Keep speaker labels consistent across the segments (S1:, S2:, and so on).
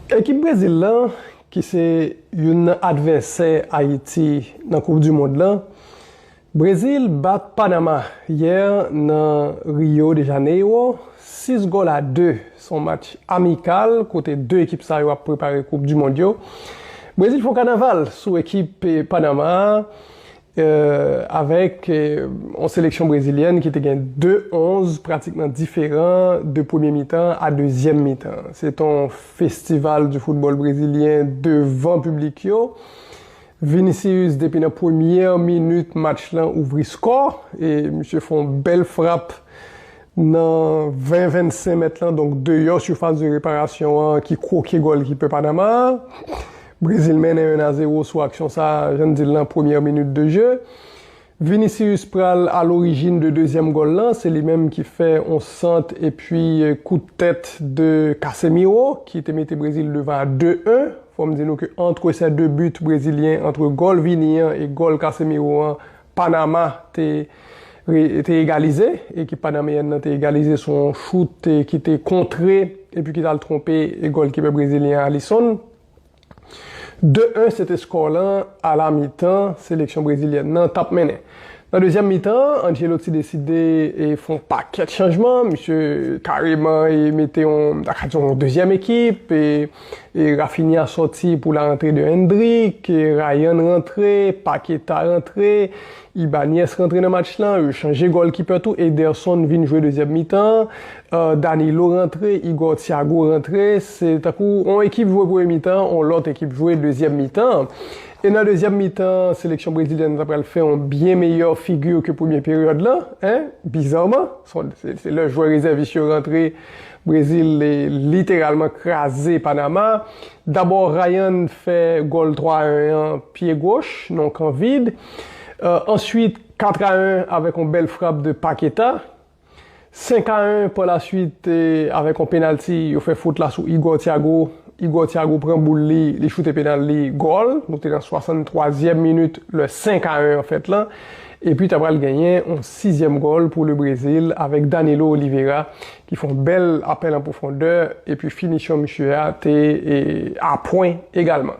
S1: Ekip Brezil lan, ki se youn nan advèsè Ayiti nan koup du mond lan, Brezil bat Panama yè nan Rio de Janeiro 6 gòl a 2, se yon match amikal kote 2 ekip sa yo ap prepare koup du mond yo. Brezil fè yon kanaval sou ekip Panama a avèk yon seleksyon brezilyèn ki te gen 2 11 pratikman diferan de premye mitan a dezyèm mitan. Se te yon festival di foutbòl brezilyen devan piblik yo. Vinicius depi nan premyè minit match lan ouvri skò e misye fè yon bèl frap nan 20 25 mèt lan donk deyò sifas de reparasyon an ki kwoke gòlkipè Panama a. Brezil mennen 1 a 0 sou aksyon sa a jan n di l lan premyè minit de je. Vinicius pral a lorijin de dezyèm gòl lan, se li menm ki fè on sant epi kout tèt de Casemiro ki te mete Brezil devan a 2 1. Fò m di nou ke antre sè 2 but brezilyen, antre gòl Vini an e gòl Casemiro an, Panama te te egalize, ekip panameyèn lan te egalize sou on chout ki te kontre epi ki t al twonpe gòlkipè brezilyen an Alisson. De 1 se te skò lan ala mitan seleksyon brezilyèn nan tap mennen. Nan dezyèm mitan an, Ancelotti deside fè yon pakèt chanjman, misye kareman mete yon ta ka di yon dezyèm ekip, Raphinha sòti pou la antre de Endrick, Ryan rantre, Paqueta rantre, Ibanez rantre nan match lan, yo chanje gòlkipè tou, Ederson vin jwe dezyèm mitan an, Danilo rantre, Igor Thiago rantre, se tankou on ekip jwe premye mitan an, on lòt ekip jwe dezyèm mitan an. E nan dezyèm mitan an, seleksyon brezilyèn nan ta pral fè on byen meyè figi ke premye peryòd lan, en, bizarman, se lè jwè rezèvis yo rantre, Brezil literalman kraze Panama. Dabò Ryan fè gòl 3 a 1 an, pye goch, nan on kan vid. Answit 4 a 1 avèk yon bèl frap de Paqueta. 5 a 1 pa la swit avèk yon penalti yo fè fot la sou Igor Thiago. Igor Thiago pran boul li, li choute penal li, gòl. Nou te nan 63 zièm minit lè 5 a 1 an fèt lan. Epi ta pral genyen yon sizièm gòl pou le Brezil avèk Danilo Oliveira ki fè yon bèl apèl an pwofondè epi finisyon misye a te a pwen egalman.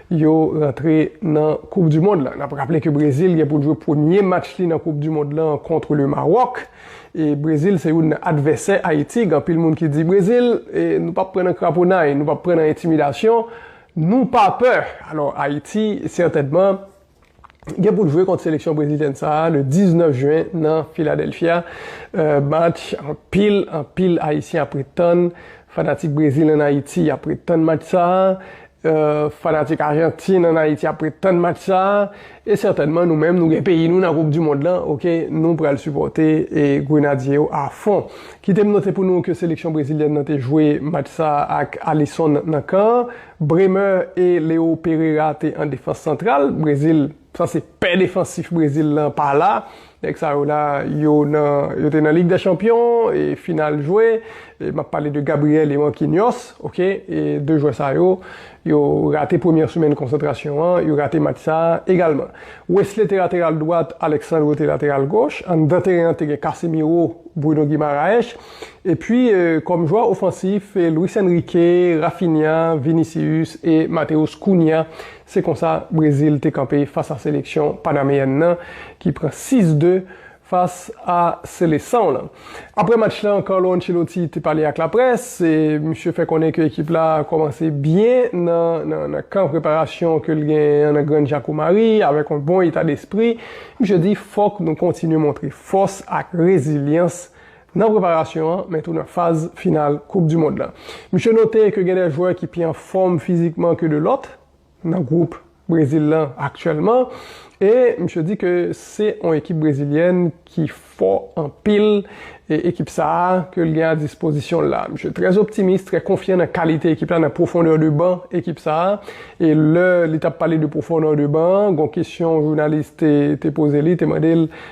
S1: Yo rantre nan koup du mond la. Nap raple ke Brezil gen poul jwe premye match li nan koup du mond la kontre le Maròk. E Brezil se youn nan advèsè Ayiti. Gen anpil moun ki di Brezil nou pap pran nan kraponay, nou pap pran nan entimidasyon, nou pa pè. Alò Ayiti sètènman. gen pou l jwe kont seleksyon brezilyèn sa a le 19 jen nan Philadelphia, match anpil anpil ayisyen ap ret tann, fanatik Brezil ann Ayiti ap ret tann match sa a, fanatik Ajantin ann Ayiti ap ret tann match sa a, e sètènman nou menm nou gen peyi nou nan koup di mond lan ok nou pral sipòte grenadye yo a fon. Kite m note pou nou ke seleksyon brezilyèn nan te jwe match sa a ak Alisson nan kan. Bremer e Leo Pereira te an defans santral Brezil sanse pè defansif Brezil lan pa la nèg sa yo la yo nan yo te nan lig dè chanpyon e final jwe e map pale de Gabriel e Marquinhos ok e 2 jwè sa yo yo rate premyè semèn konsantrasyon an yo rate match sa egalman Wesley te lateral dwat Alexandro te lateral goch anndan teren an te gen Casemiro Bruno Guimaraes Epi kòm jwè ofansif, Luis Enrique, Raphinha, Vinicius e Matheus Cunha. Se konsa Brezil te kanpe fas a seleksyon panameyèn nan ki pran 6 de fas a selesanw lan. Aprè match lan Carlo Ancelotti te pale ak laprès e misye fè konnen ke ekip la kòmanse byen nan kan preparasyon ke l genyen an nan Grann Jakomari avèk yon bon eta despri. Misye di fòk nou kontinye montre fòs ak rezilyans Nan preparasyon an, men tou nan faz final koup du mond la. Misye note ke gen de jwè ki pi an fòm fizikman ke de lòt nan gwoup Brezil lan aktyèlman e misye di ke se on ekip brezilyèn ki fò anpil e ekip sa a ke l gen a dispozisyon l la. Misye trè optimis, trè konfyan nan kalite ekip la, nan pwofondè de ban ekip sa a e lè li t ap pale de pwofondè de ban an, gon kesyon jounalis te poze li, te mande l,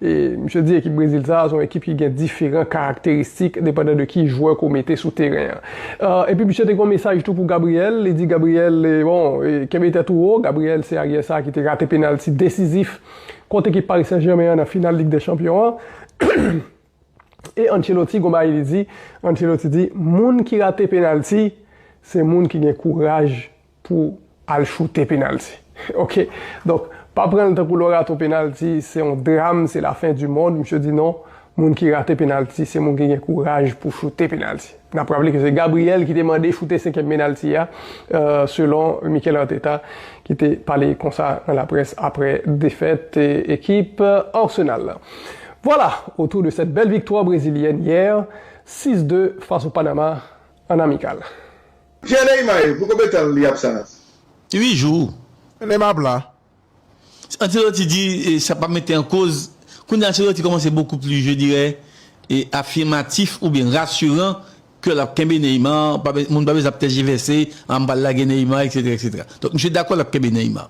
S1: Misye di ekip Brezil sa a se yon ekip ki gen diferan karakteristik depandan de ki jwè ke w mete sou teren an. Epi misye te gen yon mesaj tou pou Gabriel, li di Gabriel, bon, kenbe tèt ou wo, Gabriel se aryè sa a ki te rate penalti desizif kont ekip Paris Saint-Germain an nan final Lig dè Chanpyon an. E Ancelotti gen yon bagay li di, Ancelotti di, moun ki rate penalti, se moun ki gen kouraj pou al choute penalty ok donk pa pranl tankou lè w rate yon penalty se yon dram se la fin du monde misye di non moun ki rate penalty se moun ki gen kouraj pou choute penalty nap raple ke se Gabriel ki te mande choute 5 èm penalty a selon Mikel Arteta ki te pale konsa nan la près aprè defèt ekip Arsenal la vwala otou de sèt bèl viktwa brezilyèn yè 6 2 fas o Panama an amikal. Pierre Neymae
S2: pou konbetanl li ap sa la. Ui jou.
S3: Mennenm ma pla.
S4: Ancelotti
S3: di sa pa mete an koz Kounye a Ancelotti kòmanse bokou pli je dirè afimatif oubyen rasiran ke lap kenbe Neymar pa be moun pa bezwen ap tèjivèse a m pral lage Neymar eksetera eksetera donk misye dakò lap kenbe Neymar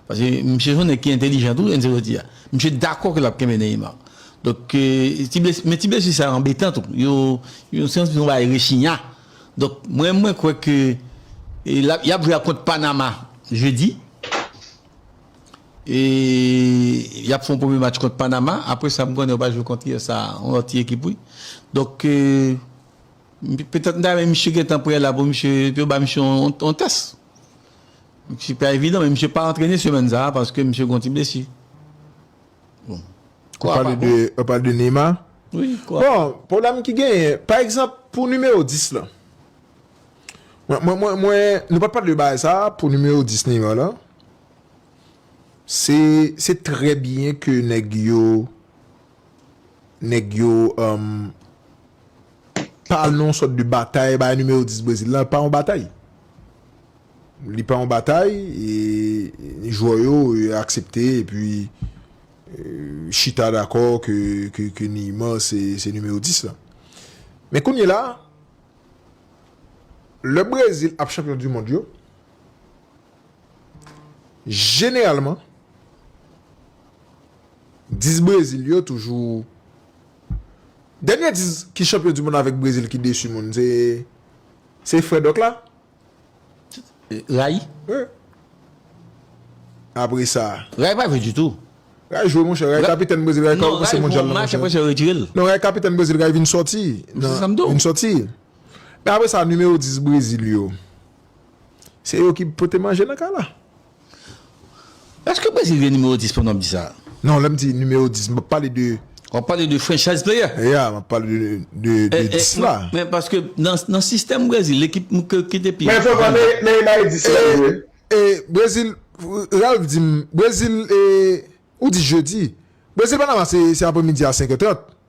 S3: paske misye son nèg ki entelijan tou Ancelotti a misye dakò ke lap kenbe Neymar donk ti blesi men ti blesi sa anbetan tou yo se yon ti bagay rechinya. Donk mwen mwen kwè ke y ap jwe ak kont Panama jedi. E y ap fè yon premye match kont Panama. Apre sa m konnen yo pral jwe kont usa, yon lòt ti ekip wi. Donk petèt m ta renmen misye gentan prè la pou misye, pou yo ba misye yon tès. Se pa evidan men misye pa antrene semèn sa a paske misye gen yon ti blesi. Ou pale
S4: de ou pale de Neymar? Wi kò. Bon,
S3: pwoblèm ki
S4: genyen, pa egzanp pou nimewo 10 lan. Mwen mwen mwen mwen nou pa t pale de bagay sa a pou nimewo 10 Neymar lan. Se se trè byen ke nèg yo nèg yo pa al nan yon sòt de batay bay nimewo 10 Brezil lan pa yon batay. Li pa yon batay, jwè yo aksepte epi chita dakò ke Neymar se nimewo 10 la. Men kounyela, lè Brezil ap chanpyon du mond yo, jeneralman 10 Brezil yo toujou, dènye 10 ki chanpyon du mond avèk Brezil ki desu moun se frè Doc la.
S3: Ray?
S4: Ray apre sa. Ray pa jwe ditou.
S3: Ray jwe monchè.
S4: Ray kapitèn Brezil. Ray ka kòmanse mondyal la monchè. Non, Ray jwe monch apre sa yo retire l.
S3: Non, Ray kapitèn Brezil. Ray
S4: vin sòti. Se sa m di w. Vin sòti. Men apre sa nimewo 10 Brezil yo. Se yo ki pote manje nan kay la.
S3: Eske Brezil gen nimewo 10 pandan wap di sa? Non lèm di nimewo
S4: 10 m pap pale de. Wap pale de franchise
S3: player? Ya map pale
S4: de 10 la. Men paske
S3: nan sistèm Brezil lekip ki te pi. Men fòk wè
S2: Neymar e 10 la vre. E Brezil
S4: Ralph di m Brezil e ou di jedi Brezil Panama se apremidi a 5 è 30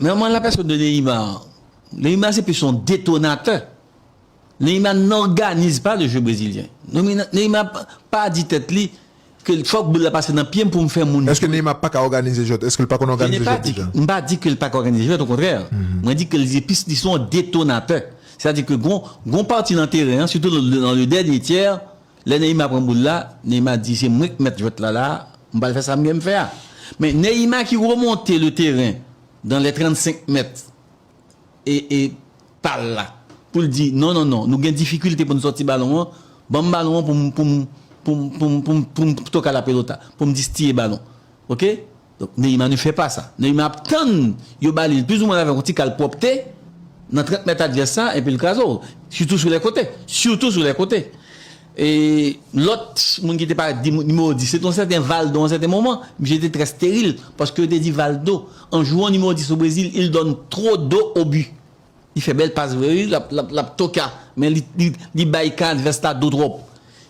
S3: Nan an la pèsòn de Neymar an, Neymar se plis yon detonatè. Neymar n'organize pas le jeu brésilien. Neymar pa di tèt li ke fòk boul la pase nan pye m pou m fè moun jwe. Eske Neymar paka òganize
S4: jwèt? Eske l pa konn òganize jwèt deja? M pa di ke l
S3: paka òganize jwèt, okontrè. Mwen di ke l se plis li se yon detonatè. Sètadi ke gon pati nan teren an, sitou nan le dènye tyè, Lè Neymar pran boul la, Neymar di se mwen ki mèt jwèt la la, m pral fè sa mwen fè a. Men Neymar ki remonte le teren dan lè 35 mèt e e pa l la pou l di non non non nou gen difikilte pou n sòti balon an, ban m balon an pou m pou m pou m pou m pou m pou m toka la pelota, pou m distiye balon. Ok? Donk Neyma ne fè pa sa. Neyma ap tann yo ba li l plizoumwen avèk yon ti kal pwòpte nan trant mèt advès sa epi l kraze w. Sitou sou lè kote. Sitou sou lè kote. E lòt moun ki te parèt di nimewo 10 se te yon sèten Valdo yon sèten moman. Misye te trè steril paske yo te di Valdo an jwon nimewo 10 o Brezil il donne trop d'eau au but. Li fè bèl pas vre wi, l ap toka men li bay kan advès la do twòp.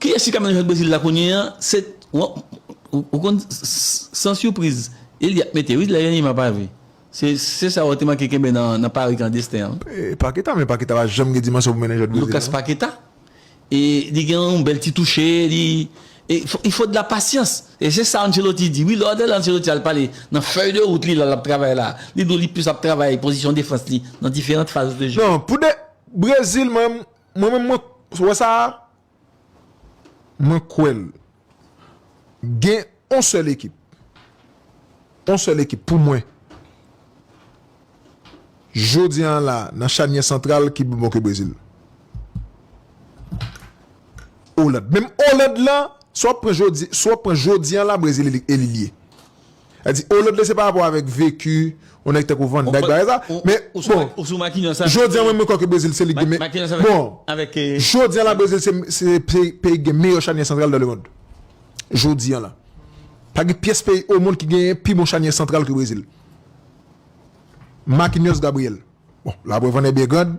S4: Kiyès ki ka mennaj
S3: ak Brezil la kounye a se ou konn san surprise e li ap mete wi lè Neymar pa vi se sa ou te manke kenbe nan pari klandestin an wi. Paqueta men Paqueta
S4: pa janm gen dimansyon pou mennaj ak Brezil non. Lucas Paqueta
S3: e li gen yon bèl ti touche li e il faut de la patience e se sa Ancelotti di wi lè wap tande Ancelotti al pale nan fèy de wout li la lap travay la li di w li plis ap travay pozisyon defans li nan diferant faz de jeu. Non pou de
S4: Brezil mwen menm mwen wè sa Mwen kwèl. Gen on sèl ekip. On sèl ekip pou mwen. Jodi an la nan chanyè santral ki pi bon ke Brezil. Oland. Menm Oland lan, sa w ap pran jodi, sa w ap pran jodi an la Brezil elimine. Sa di oh lòt lè se pa rapò avèk veku yon nèg tankou van dijk bagay sa men bon jodi an mwen kwè ke brezil se li ki gen bon jodi an la brezil se peyi ki gen meyè chanyè santral dan le mond jodi an la pa gen pyès peyi o mond ki gen pi bon chanyè santral ke brezil makinyòs gabriyèl bon la prèv an è byen grand.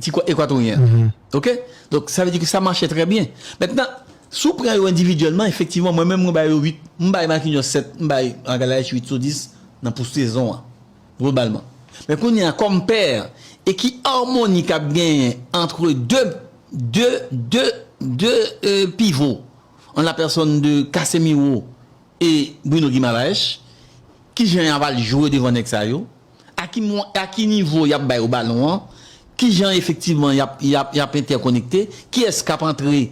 S3: ti kò ekwatoryen an. Ok? Donk, sa vle di ke sa mache trè byen. Mentnan, si w pran yo endividyèlman, efektivman, mwen menm mwen bay yo 8, m bay Marquinhos 7, m bay Magalhaes 8 sou 10 nan pou sezon an, globalman. Men kounye a, kòm pè, e ki armoni k ap genyen antre 2, 2, 2, 2 pivo, an la pèsòn de Casemiro e Bruno Guimaraes, ki jan y ava l jwe devan nèg sa yo? a ki mwen, a ki nivo y ap bay yo balon an, ki jan efektivman y ap, y ap, y ap entèkonekte, kiyès k ap antre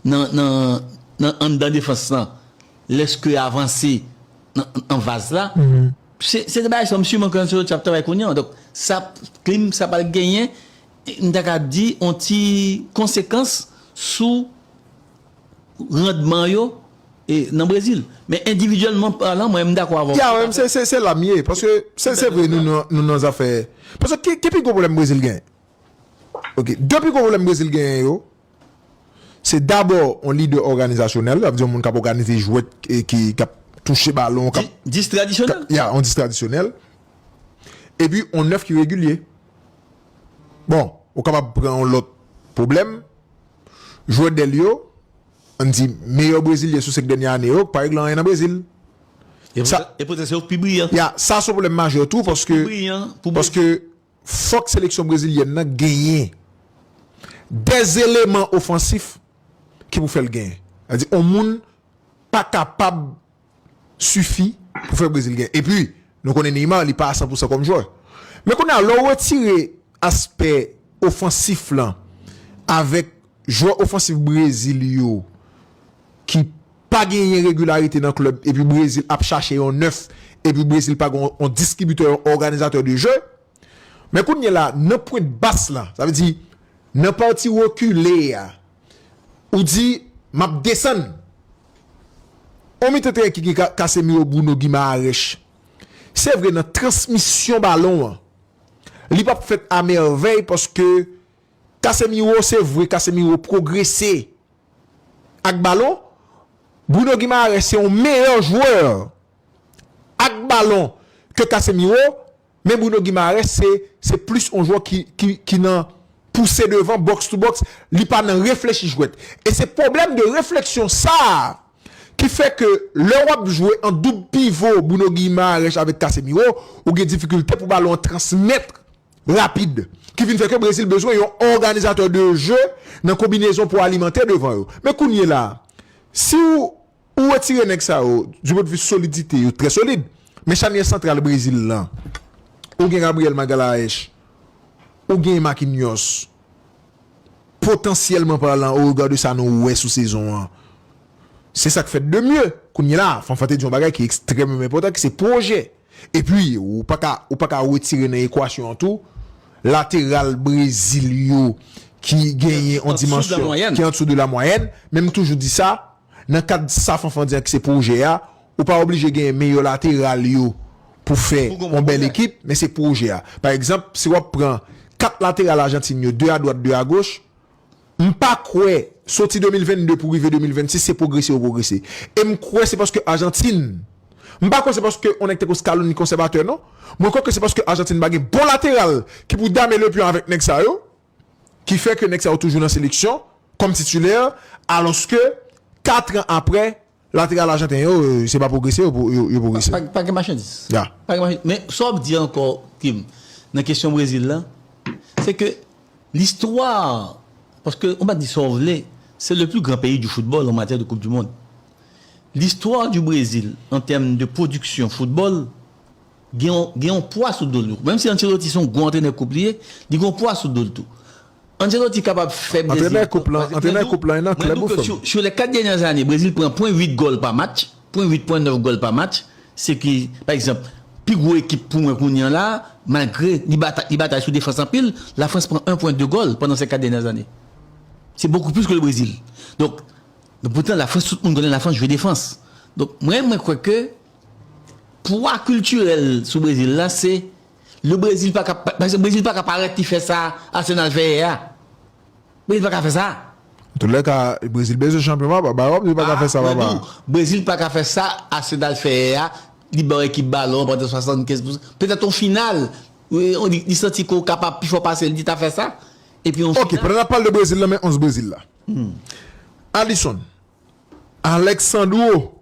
S3: nan, nan, nan anndan defans lan lèske y avanse nan, nan vaz la. Se, se de bagay sa yo, msye Monk Anseloti ap travay kounye an. Donk, sa p, klim sa pral genyen, m ta ka di, yon ti konsekans sou randman yo nan Brezil. Men endividyèlman palan mwen m dakò avè w. Ya men se la m ye
S4: paske se vre nou nan zafè paske ki pi gwo pwoblèm Brezil genyen? Ok 2 pi gwo pwoblèm Brezil genyen yo se dabò yon lidè òganizasyonèl sa vle di yon moun k ap òganize jwèt ki ap touche balon k ap 10 tradisyonèl
S3: ya yon 10 tradisyonèl
S4: epi yon 9 ki regilye bon ou kapab pran yon lòt pwoblèm. jwè dèl yo, an n di meyè brezilyen sou senk dènye ane yo, k pa regle anyen nan Brezil.
S3: E poutèt se yo k pi briyan. Ya, sa se yon pwoblèm majè
S4: tou paske fòk seleksyon brezilyèn nan genyen de eleman ofansif ki pou fè l genyen. Sa vle di yon moun pa kapab. sifi pou fè Brezil gen. Epi, nou konnen Neymar li pa a san pou san kòm jwè. Men kounye a, lè w retire aspè ofansif lan avèk jwè ofansif Brezil yo ki pa genyen regilarite nan klèb epi Brezil ap chache yon nèf epi Brezil pa gen yon distribitè, yon òganizatè de jeu, men kounye la nan pwent bas lan, sa vle di nan pati rekile a, ou di m ap desann. Òmi tenten ki gen Casemiro Bruno Guimaraes se vre nan transmisyon balon an li pap fèt a mèvèy paske Casemiro se vre Casemiro pwogrese ak balon Bruno Guimaraes se yon meyè jwè ak balon ke Casemiro Men Bruno Guimaraes se se plis on jwè ki ki ki nan pouse devan box to box, li pa nan reflechi jwèt. E se pwoblèm de refleksyon sa a ki fè ke lè w ap jwe an doub pivo Bruno Guimaraes avèk Casemiro, ou gen difikilte pou balon an transmèt rapid. Ki vin fè ke Brezil bezwen yon òganizatè de je nan konbinezon pou alimante devan yo. Men kounyela a, si w Ou retire nèg sa yo, du pwen de vi solidite yo trè solid, men chanyè santral Brezil lan, ou gen Gabriel Magalhaes, ou gen Marquinhos, potansyèlman parlan o rega de sa nou wè sou sezon an, se sa k fèt de mye. Kounyela a, Fanfan te di yon bagay ki ekstrèmeman enpòtan ki se pwojè. Epi, ou pa ka, ou pa ka retire nan ekwasyon an tou, lateral Brezil yo ki genyen yon dimansyon ki andesou de la mwayèn, men m toujou di sa, Nan kad sa Fanfan di an ki se pwojè a, ou pa oblije genyen meyè lateral yo pou fè yon bèl ekip, men se pwojè a. Pa egzanp, si w ap pran 4 lateral Ajantin yo, 2 adwat, 2 agoch, m pa kwè, soti 2022 pou rive 2026, se pwogrese yo pwogrese. E m kwè se paske Ajantin, m pa kwè se paske yon nèg tankou Scaloni konsèvatè non, mwen kwè ke se paske Ajantin pa gen bon lateral ki pou dame le pion avèk nèg sa yo. ki fè ke nèg sa yo toujou nan seleksyon kòm titulè alòske 4 an aprè lateral ajanten yo se pa pwogrese yo pwogrese. Pa gen machandiz.
S3: Ya. Pa gen machandiz. Men
S4: sa w ap di
S3: ankò Kim nan kesyon Brezil lan se ke listwa paske ou pa di sa w vle se le pli gran peyi di foutbòl an matyè de koup di mond. Listwa di Brezil an tèm de pwodiksyon foutbòl gen yon pwa sou do l tou. Menm si Ancelotti se yon gwo antrenè koup li ye, li gen yon pwa sou do l tou. Ancelotti kapab fè Brezil pran
S4: koup la. Mwen di w ke sou lè 4 dènyè
S3: ane, Brezil pran pwen 8 gòl pa match, pwen 8, pwen 9 gòl pa match. Se ki, pa egzanp, pi gwo ekip pou mwen kounye an la, malgre li batay sou defans anpil, la Frans pran 1 pwen 2 gòl pandan se 4 dènyè ane. Se bokou plis ke le Brezil. Donk, poutan la Frans, tout moun konnen la Frans jwe defans. Donk, mwen, mwen kwè ke. Pwa kiltirèl sou Brezil la se le Brezil pa ka paske Brezil pa ka parèt li fè sa Arsenal fè yè a. Brezil pa ka fè sa. Antoulèka,
S4: Brezil bezwen chanpyon papa. Bay wap di li pa ka fè sa papa. Mwen di w, Brezil pa
S3: ka fè sa Arsenal fè yè a, li ba yon ekip balon an pandan 75 pou petèt yon final li santi ke w kapab pi fò pase li, li ta fè sa. Epi yon final. Ok, pandan nap pale de Brezil
S4: nan men 11 Brezil la. Alisson, Alexandro,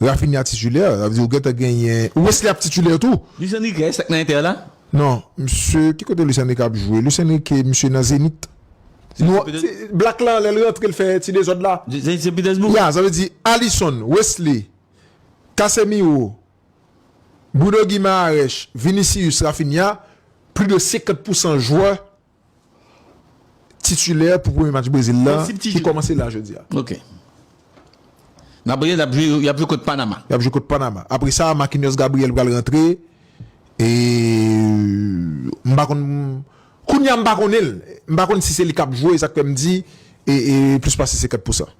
S4: Raphinha titulaire, sa vle di ou gentan genyen Wesley ap titulaire tou. Luis Enrique eske nan
S3: Inter la? Non, misye
S4: ki kote Luis Enrique ap jwe? Luis Enrique misye nan Zenith. Non, black la lèl rantre l fè ti dezòd la. Zenith Sen Petersbourg? Ya,
S3: sa vle di
S4: Alisson, Wesley, Casemiro, Bruno Guimaraes, Vinicius, Raphinha, plis de 50 pousan jwè titulè pou premye match Brezil la ki kòmanse la jodi a. Ok.
S3: N ap rele, y ap jwe kont Panama. Y ap jwe kont Panama.
S4: Apre sa, Marquinhos Gabriel pral rantre. E m pa konn, kounya m pa konnen l. M pa konn si se li k ap jwe, e sa k fè m di e plis pase 50 pousan.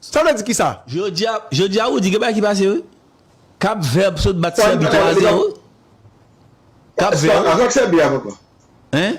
S4: Sa vle di kisa? Jodia jodia
S3: Roody gen bagay ki pase wi Cap vert sot bat Serbie 3 a 0 Cap vert
S2: Sa ak Serbie
S3: a papa?
S2: Hein?